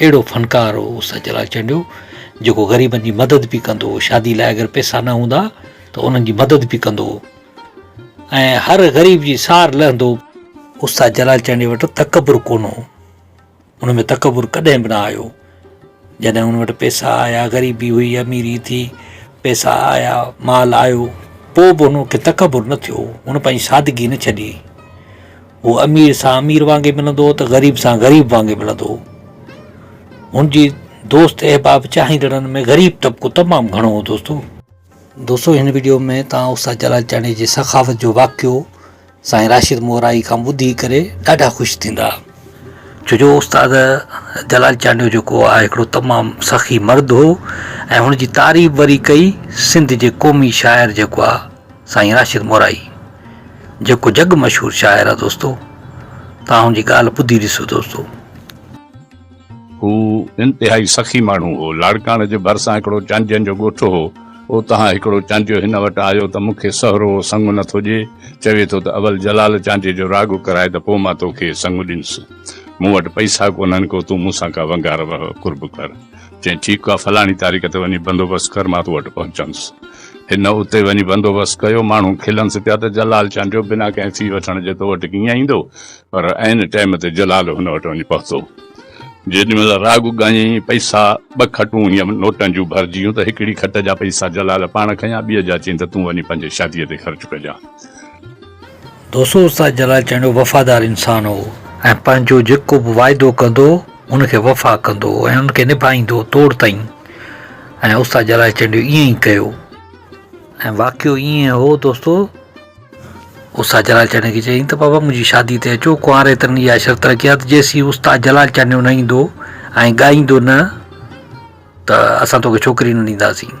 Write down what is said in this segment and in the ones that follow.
اهڙو فنڪار هو استاد جلال چنڊيو جيڪو غريبن جي مدد به ڪندو هو شادي لاء اگر پيسا نه هوندا ته انهن جي مدد به ڪندو هو ۽ هر غريب جي سار لهندو هو. استاد جلال چنڊيو وٽ تڪبر ڪونه هو ان ۾ تڪبر ڪڏهن به نه آيو جڏهن ان وٽ پيسا آيا غريبي هئي اميري ٿي پيسا آيا مال آيو پوء به ان کي تڪبر نه ٿيو هن پنهنجي سادگي نه ڇڏي. هو امير سان امير وانگي ملندو هو ته غريب سان غريب وانگي ملندو هو. هن جي دوست احباب چاهيندڙن ۾ غريب طبقو تمام گهڻو هو دوستو. دوستو هن ويڊيو ۾ توهان استاد جلال چانڊيي جي سخاوت جو واقعو سائين راشد مورائي کان ٻڌي ڪري ڏاڍا خوش ٿيندا ڇو جو استاد جلال چانڊيو جيڪو آهي هڪڙو تمام سخي مرد هو ۽ هن جي تعريف وري ڪئي سنڌ جي قومي شاعر جيڪو آهي سائين راشد مورائي جيڪو جڳ مشهور شاعر آ دوستو توهان هن جي ڳالهه ٻڌي ڏسو دوستو. هو انتهائي سخي ماڻهو هو. لاڙڪاڻه جي ڀرسان هڪڙو چانڊين جو ڳوٺ هو. اوتان هڪڙو چانڊيو هن وٽ آيو ته مون کي سهرو سڱ نه ٿو ڏئي. چوي ٿو ته اول جلال چانڊيي جو راڳ ڪرائي ته پوء مان توکي سڱ ڏينس. مون وٽ پئسا ڪونهن ڪو تون مون سان ڪا ونگار وهه قرب ڪر. چيائين، ٺيڪ آ، فلاڻي تاريخ تي وڃي بندوبست ڪر، مان تو وٽ پهچنس. هن اتي وڃي بندوبست ڪيو. ماڻهو کلنس پيا ته جلال چانڊيو بنا ڪنهن في وٺڻ جي تو وٽ ڪيئن ايندو؟ پر عين ٽيم تي جلال هن وٽ وڃي پهتو. جيڏي مهل راڳ ڳايائين، پئسا ٻه کٽون هيم نوٽن جون ڀرجيون ته هڪڙي کٽ جا پئسا جلال پاڻ کنيا، ٻيء جا چيائين ته تون وڃي پنهنجي شاديء تي خرچ ڪجان. دوسو استاد جلال چانڊيو وفادار انسان هو ۽ پنهنجو جيڪو به واعدو ڪندو ان کي وفا ڪندو هو ۽ ان کي نڀائيندو توڙ تائين ۽ استاد جلال چانڊيو ائين ئي ڪيو ۽ واقعو ائين هو دوستو استاد جلال چانڊيو کي چيائين ته بابا منهنجي شادي تي اچو ڪنواري تن اها شرط رکي آ ته جيسين استاد جلال چانڊيو نه ايندو ۽ ڳائيندو نه ته اسان توکي ڇوڪري نه ڏينداسين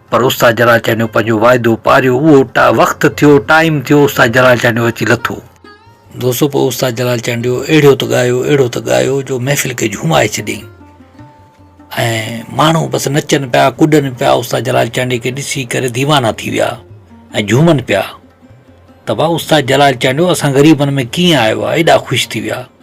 پر استاد جلاچانيو پنهنجو واعدو پاريو، اهو وقت ٿيو، ٽائيم ٿيو، استاد جلاچانيو اچي لٿو. دوستو پوء استاد جلال چانڊيو اهڙيو ته ڳايو، اهڙو ته ڳايو جو محفل کي جهومائي ڇڏيائين ۽ ماڻهو بس نچن پيا، ڪڏن پيا، استاد جلال چانڊيي کي ڏسي ڪري ديوانا ٿي ويا ۽ جهومن پيا ته واهه استاد جلال چانڊيو اسان غريبن ۾ ڪيئن آيو آهي، ايڏا خوش ٿي ويا.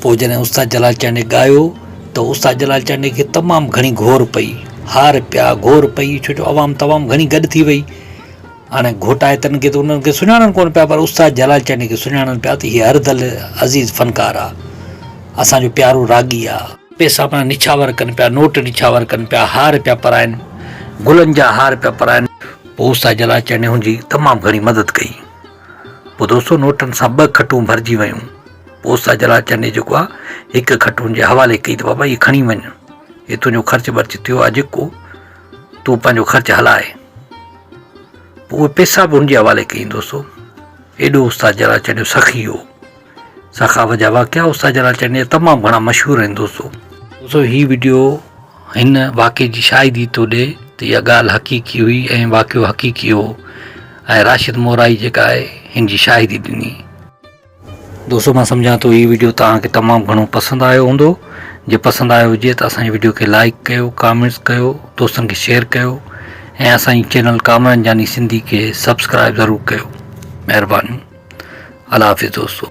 پوء جڏهن استاد جلال چانڊيي ڳايو ته استاد جلال چانڊيي کي تمام گهڻي گهور پئي، هار پيا، گهور پئي ڇو جو عوام تمام گهڻي گڏ ٿي وئي. هاڻي گهوٽائتن کي ته انهن کي سڃاڻن ڪونه پيا پر استاد جلال چانڊيي کي سڃاڻن پيا ته هي هر دل عزيز فنڪار آ. اسان جو پيارو راڳي آ. پئسا پڻ نڇاور ڪن پيا، نوٽ نڇاور ڪن پيا، هار پيا پرائن، گلن جا هار پيا پرائن. پوء استاد جلال چانڊيي هن جي تمام گهڻي مدد ڪئي. پوء دوستو نوٽن سان ٻه کٽون ڀرجي ويون پوء استاد جلال چني جيڪو آ هڪ کٽون جي حوالي ڪئي ته بابا هي کڻي وڃ هي تنهنجو خرچ برچ ٿيو آ جيڪو تون پنهنجو خرچ هلائي پوء اهي پيسا به هن جي حوالي ڪيائين دوستو ايڏو استاد جلال چنيو سخي هو سخاوت جا واقعا استاد جلال چٽني جا تمام گھڻا مشھور آھن دوستو دوستو ھي وڊيو ھن واقعي جي شاھدي ٿو ڏي ته اھا ڳالھ حقيقي ھئي ۽ واقعو حقيقي ھو ۽ راشد مورائي جيڪا آھي ھن جي شاھدي ڏني. دوستو مان سمجھان ٿو ھي وڊيو توھان کي تمام گھڻو پسند آيو ھوندو جي پسند آيو ھجي ته اسان جي وڊيو کي لائيڪ ڪيو ڪامينٽس ڪيو دوستن کي شيئر ڪيو ۽ اسان جي چينل ڪامران جاني سنڌي کي سبسڪرائيب ضرور ڪيو مھرباني. الله حافظ دوستو.